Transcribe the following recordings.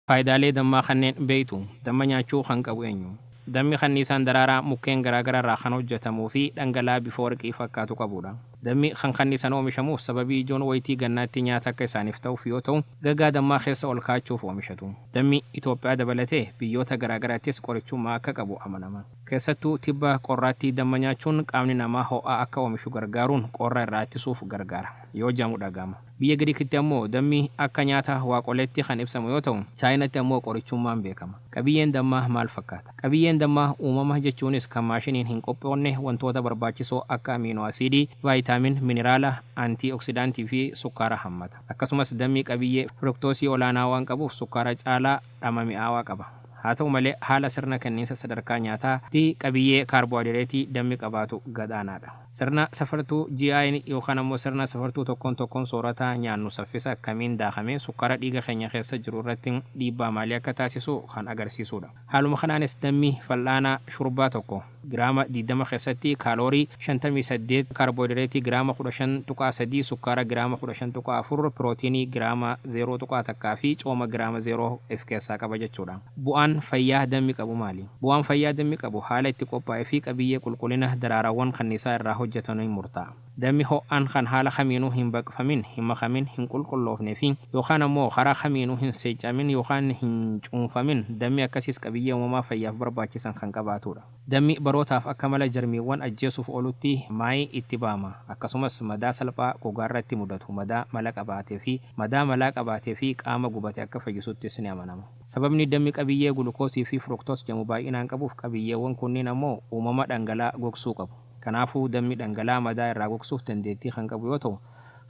Faayidaalee dammaa kanneen beektu? Damma nyaachuu kan qabu eenyu? Dammi kanniisaan daraaraa mukkeen garaagaraa irraa kan hojjetamuu fi dhangala'aa bifa warqii fakkaatu qabudha. Dammi kan kanniisaan oomishamuuf sababii ijoon waytii gannaatti nyaata akka isaaniif ta'uuf yoo ta'u, gagaa dammaa keessa ol kaa'achuuf oomishatu. Dammi Itoophiyaa dabalatee biyyoota garaagaraattis qorichummaa akka qabu amanama. Keessattuu tibba qorraatti damma nyaachuun qaamni namaa ho'a akka oomishu gargaaruun qorra irraa ittisuuf gargaara yoo jedhamu dhaga'ama. Biyya Giriikitti ammoo dammi akka nyaata waaqoleetti kan ibsamu yoo ta'u, Chaayinatti ammoo qorichummaan beekama. Qabiyyeen dammaa maal fakkaata? Qabiyyeen dammaa uumama jechuunis kan maashiniin hin qophoonne wantoota barbaachisoo akka amiinoo asiidii, vaayitaamin, miniraala, antii oksidaantii fi sukkaara hammata. Akkasumas dammi qabiyyee firuktoosii olaanaa waan qabuuf sukkaara caalaa. dhamdhama mi'aawaa qaba. Haa ta'u malee, haala sirna kenniinsa sadarkaa nyaataa tti qabiyyee kaarboohayidireetii dammi qabaatu gad aanaadha. Sirna safartuu GI'n yookaan ammoo sirna safartuu tokkoon tokkoon soorataa nyaannu saffisa akkamiin daakamee sukkaara dhiiga keenya keessa jiru irratti dhiibbaa maalii akka taasisu kan agarsiisuudha. Haaluma kanaanis dammi fal'aana shurbaa tokko. giraama 20 keessatti kaaloorii 58, kaarbooyidireetii giraama 15.3, sukkaara giraama 15.4, pirootiinii giraama 0.1 fi cooma giraama 0 if keessaa qaba jechuudha. Bu'aan fayyaa dammi qabu maali? Bu'aan fayyaa dammi qabu haala itti qophaa'e fi qabiyyee qulqulina daraaraawwan kanniisaa irraa hojjetanuin murtaa'a. Dammi ho'aan kan haala kamiinuu hin baqfamin, hin makamin, hin qulqulloofne fi yookaan ammoo karaa kamiinuu hin seeccaamin yookaan hin cuunfamin, dammi akkasiis qabiyyee uumamaa fayyaaf barbaachisan kan qabaatuudha. Dammi barootaaf akka mala jarmiiwwan ajjeesuuf oolutti maayii itti ba'ama. Akkasumas madaa salphaa gogaarratti mudatu, madaa mala qabaate fi madaa malaa qabaate fi qaama gubate akka fayyisuttis ni amanama. Sababni dammi qabiyyee gulukoosii fi fructose jedhamu baay'inaan qabuuf qabiyyeewwan kunniin ammoo uumama dhangala'aa gogsuu qabu. Kanaafuu, dammi dhangala'aa madaa irraa gogsuuf dandeettii kan qabu yoo ta'u,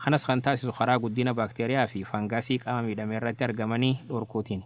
kanas kan taasisu karaa guddina baakteeriyaa fi fangasii qaama miidhame irratti argamanii dhorkuutiini.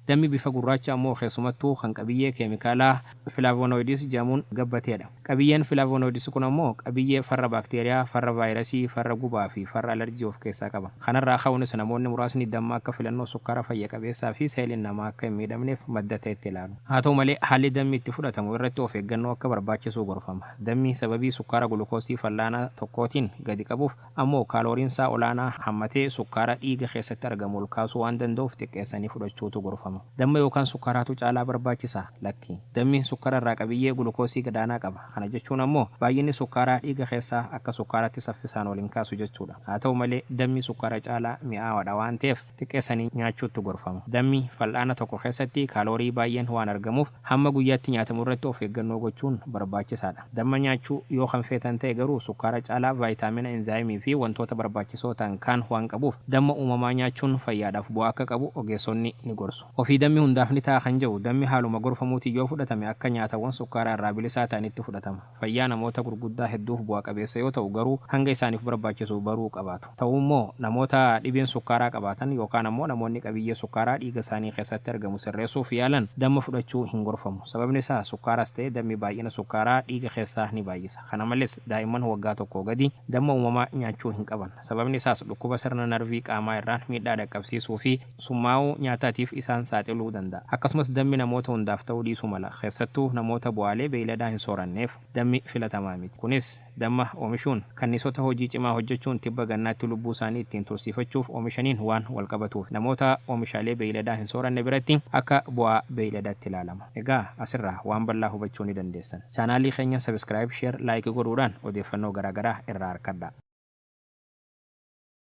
Dammi bifa gurraacha ammoo keessumattuu kan qabiyyee keemikaalaa flavonoids jedhamuun gabbateedha. Qabiyyeen flavonoids kun ammoo qabiyyee farra baakteeriyaa, farra vaayirasii, farra gubaa fi farra alarjii of keessaa qaba. Kanarraa ka'uunis namoonni muraasni damma akka filannoo sukkaara fayya qabeessaa fi seeliin namaa akka hin miidhamneef madda ta'etti ilaalu. Haa ta'u malee, haalli dammi itti fudhatamu irratti of eeggannoo akka barbaachisuu gorfama. Dammi sababii sukkaara gulukoosii fal'aanaa tokkootiin gadi qabuuf ammoo kaalooriinsaa olaanaa hammatee sukkaara dhiiga keessatti argamu ol kaasuu waan danda'uuf xiqqeessanii fudhachuutu gorfama. Damma yookaan sukkaaraatu caalaa barbaachisa? Lakki. Dammi sukkara irraa qabiyyee gulukoosii gadaanaa qaba. Kana jechuun ammoo baay'inni sukkaaraa dhiiga keessaa akka sukkaaraatti saffisaan ol hin kaasu jechuudha. Haa ta'u malee, dammi sukkaara caalaa mi'aawaadha waan ta'eef, xiqqeessanii nyaachuuttu gorfama. Dammi fal'aana tokko keessatti kaaloorii baay'een waan argamuuf hamma guyyaatti nyaatamu irratti of eeggannoo gochuun barbaachisaadha. Damma nyaachuu yoo kan feetan ta'e garuu sukkaara caalaa vaayitaamina, inzaayimii fi wantoota barbaachisoo ta'an kaan waan qabuuf damma uumamaa nyaachuun fayyaadhaaf bu'aa akka qabu ogeessonni ni gorsu. Ofii dammi hundaaf ni ta'a kan jedhu dammi haaluma gorfamuutiin yoo fudhatame akka nyaatawwan sukkaaraa irraa bilisaa ta'anitti fudhatama. Fayyaa namoota gurguddaa hedduuf bu'a qabeessa yoo ta'u garuu hanga isaaniif barbaachisu baruu qabaatu. Ta'u immoo namoota dhibeen sukkaaraa qabaatan yookaan ammoo namoonni qabiyyee sukkaaraa dhiiga isaanii keessatti argamu sirreessuuf yaalan damma fudhachuu hin gorfamu. Sababni isaa sukkaaras ta'e dammi baay'ina sukkaaraa dhiiga keessaa ni baay'isa. Kana malees daa'imman waggaa tokkoo gadii damma uumamaa nyaachuu hin qaban. Sababni isaas dhukkuba sirna narvii qaamaa irraan miidhaa dhaqqabsiisuu fi summaa'uu nyaataatiif isaan saaxiluu danda'a. Akkasumas dammi namoota hundaaf ta'uu dhiisuu mala. Keessattuu namoota bu'aalee beeyladaa hin sooranneef dammi filatamaa miti. Kunis damma oomishuun kanniisota hojii cimaa hojjechuun tibba gannaatti lubbuu isaanii ittiin tursiifachuuf oomishaniin waan walqabatuufi. Namoota oomishaalee beeyladaa hin sooranne biratti akka bu'aa beeyladaatti ilaalama. Egaa asirraa waan bal'aa hubachuu ni dandeessan. Chaanaalii keenya subscribe, share, like godhuudhaan odeeffannoo garaagaraa irraa arkadhaa.